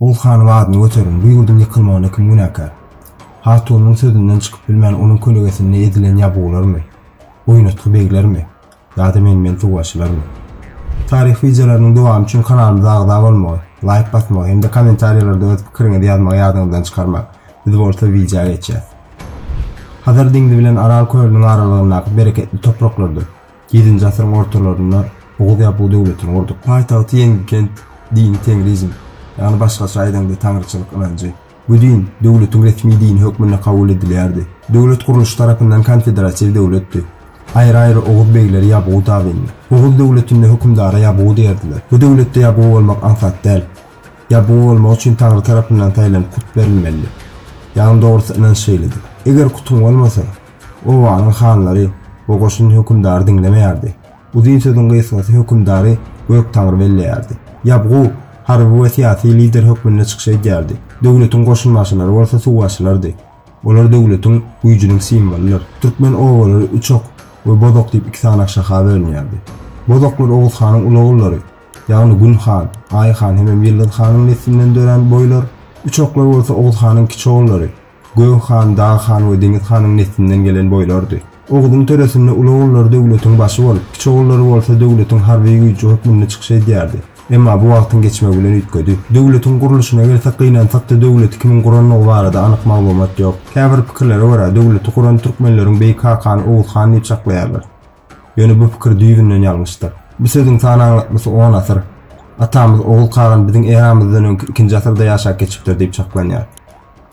Ow hanyň adyny göterin, bu ýurduň ýykylmagyna kim günäkär? Hatunyň sözünden çykyp bilmän onuň kölegesinde ezilen ýabgularmy? Oýnatgy beglermi? Dady men bilen suwbaşylarmy? Taryh wideolarynyň dowamy üçin kanalymyza agza bolmagy, laýk basmagy hem-de kommentariýalarda öz pikiriňizi ýazmagy ýadyňyzdan çykarmaň. Biz bolsa wideo geçýäs. Hazar deňzi bilen Aral kölüniň aralygyndaky bereketli topraklarda ýedinji asyryň ortalarynda Oguz Ýabgu döwletini gurduk. Paýtagty Ýeňgikent, dini teňrizm, ýagny başgaça aýdaňda taňryçylyk ynanjy. Bu din döwletiň resmi dini hökmünde kabul edilýärdi. Döwlet gurluşy tarapyndan konfederatiw döwletdi. Aýry-aýry oguz begleri Ýabgu tabyndy. Oguz döwletinde hökümdara Ýabgu diýerdiler. Bu döwletde Ýabgu bolmak aňsat däl. Ýabgu bolmak üçin Taňry tarapyndan saýlanyp kut berilmelidi. Ýagny dogrusy ynanç şeýledi. Eger kutyň bolmasa, obanyň hanlary we goşun hökümdary diňlemeýärdi. Bu dyn sözüň gysgasy hökümdary Göktaňry belleýärdi. Ýabgu harby we syýasy lider hökmünde çykyş edýärdi, döwletiň goşunbaşylary bolsa suwbaşylardy. Olar döwletiň, güýjüniň simwolydyr. Türkmen obalary Üçok we Bozok diýip iki sany aşaka bölünýärdi. Bozoklar Oguz hanyň ulugullary, ýagny Gün han, Aý han hemem Ýyldyz hanyň neslinden dörän boýlar, Üçoklar bolsa Oguz hanyň kiçi ogullary, Gök han, Dag han we Deňiz hanyň neslinden gelen boýlardy. Ogzuň töresinde uly ogullary döwletiň başy bolup, kiçi ogullary bolsa döwletiň harby güýji hökmünde çykyş edýärdi. Emma bu wagtyň geçmegi bilen üýtgedi. Döwletiň gurluşyna gelsek, gynansak-da, döwleti kimiň gurandygy barada anyk maglumat ýok. Käbir pikirlere görä, döwleti guran türkmenleriň beýik kakany Oguz han diýip çaklaýarlar. Ýöne bu pikir düýbünden ýalňyşdyr. Bu sözüň san aňlatmasy on asyr. Atamyz Oguz kagan biziň eramyzdan öňki ikinji asyrda ýaşap geçipdir diýip çaklanýar.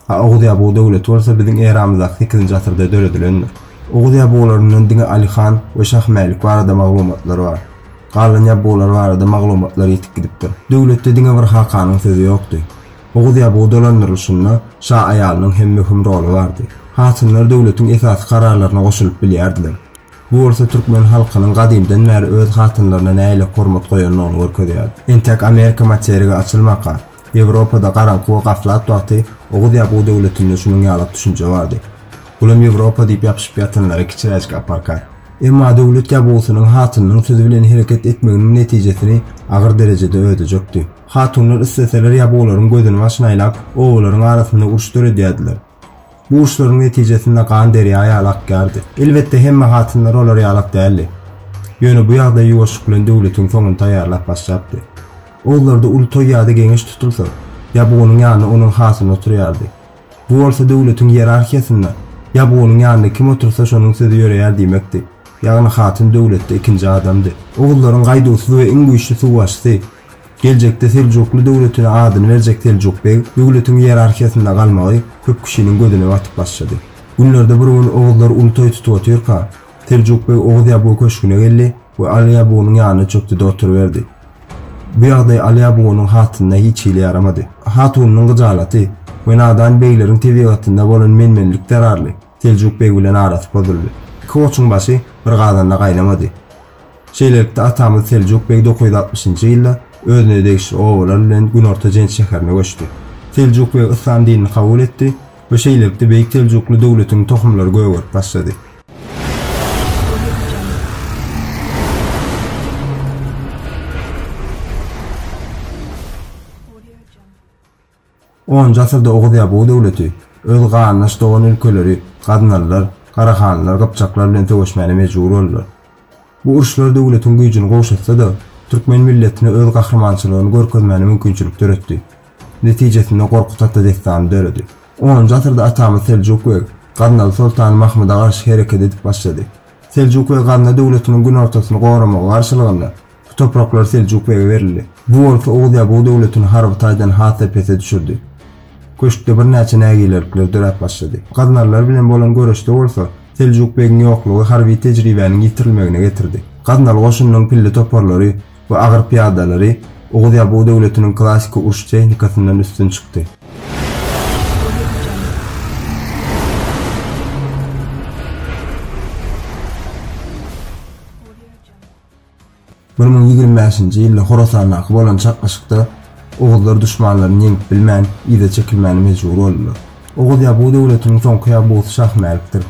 A Oguz Ýabugy döwleti bolsa biziň eramyzdaky sekizinji asyrda döredilendir. Oguz Ýabugylaryndan diňe Aly han we Şah Mälik barada maglumatlar bar. Galan Ýabugylar barada maglumatlar ýitip gidipdir. Döwletde diňe bir hakanyň sözi ýokdy. Oguz Ýabugy dolandyrylyşynda şa aýalynyň hem möhüm roly bardy. Hatunlar döwletiň esasy kararlaryna goşulyp bilýärdiler. Bu bolsa türkmen halkynyň gadymdan bäri öz hatynlaryna nähili hormat goýandygyny görkezýär. Entek Amerika materigi açylmaka, Ýewropada garaňky we gaflat wagty oguz-ýabugy döwletinde şunuň ýalak düşünje bardy. Bulam Ýewropa diýip ýapyşyp ýatanlara kiçiräjik aparka. Emma döwlet ýabugysynyň hatynynyň sözi bilen hereket etmeginiň netijesini agyr derejede ödejekdi. Hatunlar isleseler ýabugularyň gözüni maşynaýlap, obalaryň arasynda uruş döredýärdiler. Bu uşlaryň netijesinde gan derýa ýaly akýardy. Elbetde, hemme hatunlar olar ýaly ak däldi. Ýöne bu ýagdaý ýuwaşlyk bilen döwletiň soňuny taýýarlap başlapdy. Oguzlarda uly toý ýa-da geňeş tutulsa, Ýabgunyň ýanynda onuň hatyny oturýardy. Bu bolsa döwletiň ýerarhiýasynda Ýabgunyň ýanynda kim otursa şonuň sözi ýöreýär diýmekdi. Ýagny hatyn döwletde ikinji adamdy. Oguzlaryň gaýduwsyz we iň güýçli suwbaşysy. Geljekde Seljukly döwletine adyny berjek Seljuk beg döwletiň ýerarhiýasynda galmagy köp kişiniň gözüne batyp başlady. Günlerde bir gün oguzlar uly toý tutup otyrka, Seljuk beg Oguz Ýabugy köşgüne geldi we Aly Ýabugynyň ýanyna çökdi-de oturyberdi. Bu ýagdaý Aly Ýabugynyň hatynyna hiç hili ýaramady. Hatunynyň gyjalaty we nadan begleriň tebigatynda bolan menmenlik zerarly, Seljuk beg bilen arasy pozuldy. Iki goçuň başy bir gazanda gaýnamady. Şeýlelikde, atamyz Seljuk beg dokuz ýüz altmyşynjy ýylda özüne degişli obalar bilen günorta Jenç şäherine göçdi. Seljuk beg yslam dinini kabul etdi we şeýlelikde Beýik Seljukly döwletiniň tohumlary gögerip başlady. Onunjy asyrda Oguz ýa Bugy döwleti öz garyndaş dogan ülkeleri, gaznalylar, garahanlylar, gypjaklar bilen söweşmäne mejbur boldular. Bu uruşlar döwletiň güýjüni gowşatsa-da, türkmen milletine öz gahrymançylygyny görkezmäne mümkinçilik döretdi. Netijesinde Gorkut ata dessany döredi. Onunjy asyrda atamyz Seljuk beg, gaznaly soltany Mahmyda garşy hereket edip başlady. Seljuk beg Gazna döwletiniň günortasyny goramagy garşylygynda, Bu topraklar Seljuk bege berildi. Bu bolsa Oguz Ýabuw döwletini harby taýdan has-da pese düşürdi. Köşkde birnäçe nägilelikler döräp başlady. Gaznalylar bilen bolan göreşde bolsa, Seljuk begiň ýoklugy harby tejribäniň ýitirilmegine getirdi. Gaznaly goşunynyň pilli toparlary we agyr pyýadalary Oguz Ýabuw döwletiniň klassyky uruş tehnikasyndan üstün çykdy. Bir müň ýigrimi bäşinji ýylda Horasandaky bolan çaknyşykda oguzlar duşmanlaryny ýeňip bilmän, yza çekilmäne mejbur boldular. Oguz Ýabuw döwletiniň soňky ýabusy Şahmälikdir.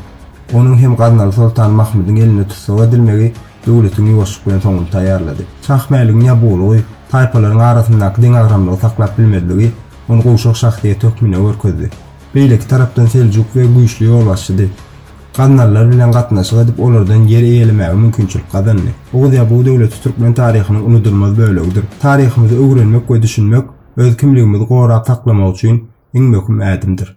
Onuň hem Gaznaly soltan Mahmydyň elinde tussag edilmegi döwletiň ýuwaşlyk bilen soňuny taýýarlady. Şahmäligiň ýabuwlygy, taýpalaryň arasyndaky deňagramlygy saklap bilmezligi ony gowşak şahsyýet hökmünde görkezdi. Beýleki tarapdan Seljuk beg güýçli ýolbaşçydy. Gaznalylar bilen gatnaşyk edip, olardan ýer eýelemäge mümkinçilik gazandy. Oguz Ýabuw döwleti türkmen taryhynyň unudylmaz bölegidir. Taryhymyzy öwrenmek we düşünmek, öz kimligimizi gorap saklamak üçin iň möhüm ädimdir.